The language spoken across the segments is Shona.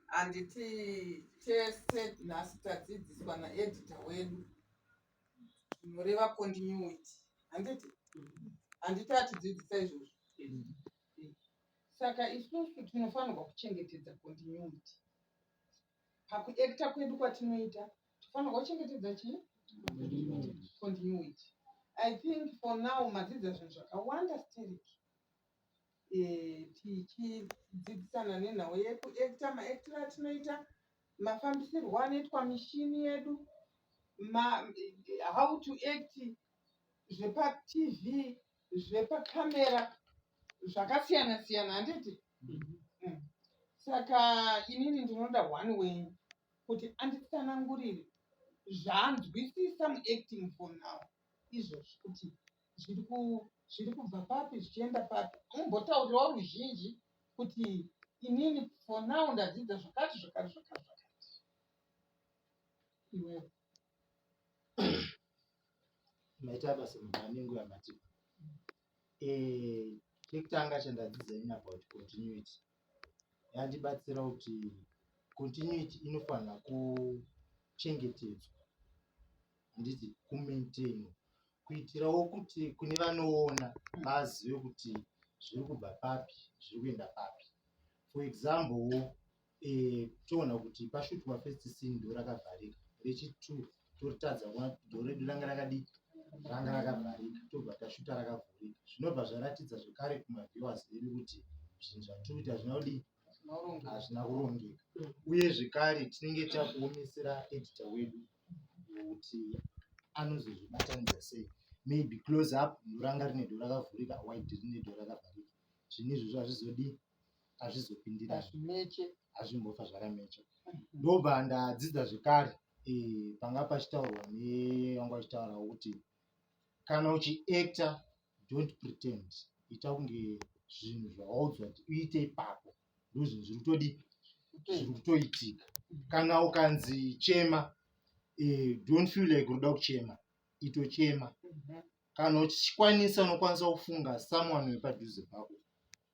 handiti tese nhasi tadzidziswa naedita wedu zvinoreva continuity handiti handiti atidzidzisa izvozvo saka isusu tinofanirwa kuchengetedza continuity pakuekta kwedu kwatinoita tinofanirwa kuchengetedza chii continuity i think for now madzidza zvinhu zvakawanda steriki tichidzidzisana nenhau yekuekita maekitiro atinoita mafambisirwo anoitwa mishini yedu ma, how to act zvepatv zvepakamera zvakasiyana siyana handiti mm-hmm. mm. saka inini ndinoda one wenyu kuti anditsanangurire zvaanzwisisa muacting for now izvozvi kuti zviri ku zviri kubva papi zvichienda papi mumbotaurirawo ruzhinji kuti inini for now ndadzidza zvakati zvakati zvakati zvakati iwewe maita basa mubaningo yamatipa eh, chekutanga chandadzidza ini about continuity yandibatsira kuti continuity inofanira kuchengetedzwa handiti kumaintain kuitirawo kuti kune vanoona vazive kuti zviri kubva papi zviri kuenda papi for example wo eh, toona kuti pashutwa first scene do rakavharika rechitwo toritadza kuona kuti do redu ranga rakadii ranga rakavharika tobva tashuta rakavhurika zvinobva zvaratidza zvekare kumaviewers edu kuti zvinhu zvatiri kuita hazvina kudii hazvina kurongeka uye zvekare tinenge takuomesera edita wedu kuti anozozvibatanidza sei maybe close up ndoranga rine do rakavhurika wide rine do rakavharika zvinhu izvozvo hazvizodii hazvizopindira hazvimeche hazvimbofa zvakamecha ndobva ndadzidza zvekare eh, panga pachitaurwa nevanga vachitaura kuti kana uchiacta don't pretend ita kunge zvinhu zvawaudzwa kuti uite ipapo ndozvinhu zviri kutodii zviri kutoitika kana ukanzi chema eh, don't feel like unoda kuchema itochema mhm. kana uchikwanisa unokwanisa kufunga someone wepadhuze pako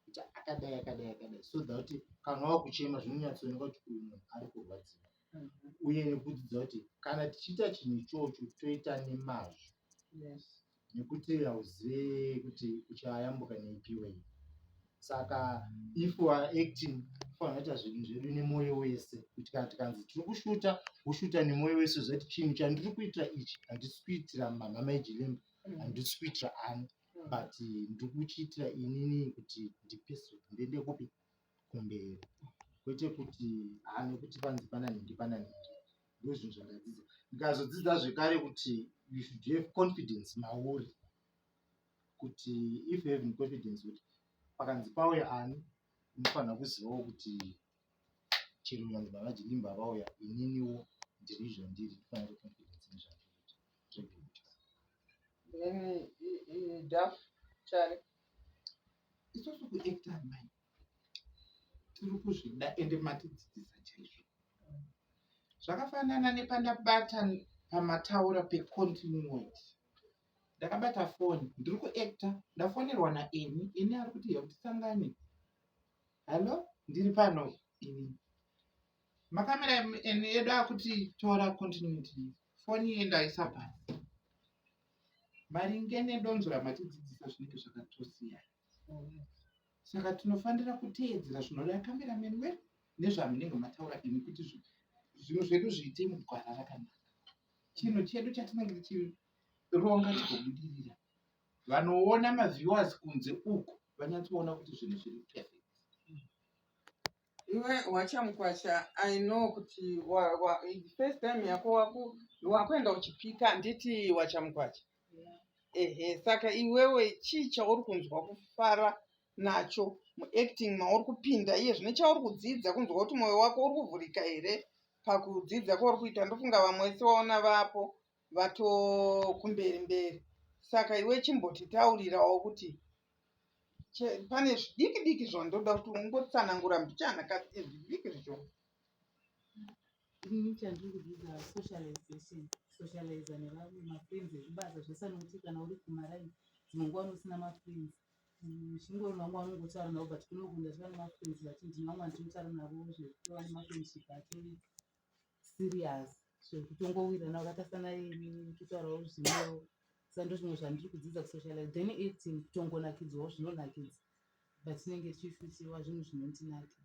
kuti akadai akadai akadai so that kana wakuchema zvinonyatsooneka kuti uyu munhu ari kurwadziwa mhm. uye nekudzidza kuti kana tichiita chinhu ichocho toita nemazvo nekuti hauzive kuti uchayambuka neipi way saka if u are acting fanoita zvinhu zvedu nemwoyo wese kuti kana tikanzi tiri kushuta woshuta nemwoyo wese zvati chinhu chandiri kuitira ichi handisi kuitira mamhama ejilemba handisi kuitira ani but ndiri kuchiitira inini kuti ndipeso ndiende kupi kumberi kwete kuti haa nekuti panzi pana nhingi pana nhingi ndozvinhu zvandadzidza ndikazodzidza zvekare kuti you should have confidence mauri kuti if you having confidence kuti pakanzi pauya ani unofanira kuzivawo kuti chero vanhu vavajidimba vauya ininiwo ndiri zvandiri ndifanira confidence nezvandiri zvekuita then idaf chari isusu kuekta mai tiri kuzvida ende matidzidzisa chaizvo zvakafanana nepandabata pamataura pecontinued ndakabata foni ndiri kuekta ndafonerwa naeni ini ari kuti hekuti sangani hallo ndiri pano ini makamera eni edu akuti tora continuity foni yendaisa pasi maringe nedonzo ramatidzidzisa zvinenge zvakatosiyana saka tinofanira kuteedzera zvinoda kamera menwe nezvamunenge mataura ini kuti zvinhu zvedu zviite mugwara rakanaka chinhu chedu chatinenge tichironga chikobudirira vanoona maviewers kunze uku vanyatsoona kuti zvinhu zviri perfect iwe wachamukwasha i know kuti first time yako waku wakuenda uchipika handiti wachamukwasha ehe saka iwewe chii chauri kunzwa kufara nacho muacting mauri kupinda iye zvine chauri kudzidza kunzwa kuti mwoyo wako uri kuvhurika here pakudzidza kwauri kuita ndofunga vamwe wese waona vapo vatokumberi mberi saka iwe chimbotitaurirawo kuti Che- pane zvidiki diki zvandoda kuti ungotsanangura mbichana ka eh, zvidiki zvicho Ini chandikudzidza socialization socialize nevamwe mafriends ezvibasa zvese anokuti kana uri kumaraini dzimwe nguva usina mafriends zvingori vamwe vanongotaura navo but kunokunda zvivane mafriends vati ndine vamwe vandinotaura navo zvekuva nemafriendship atori serious zvekutongowirana vakatasana kutaurawo zvimwewo sando zvimwe zvandiri kudzidza kusocialize then acting kutongonakidzwawo zvinonakidza but tinenge tichifitirwa zvinhu zvinontinakidza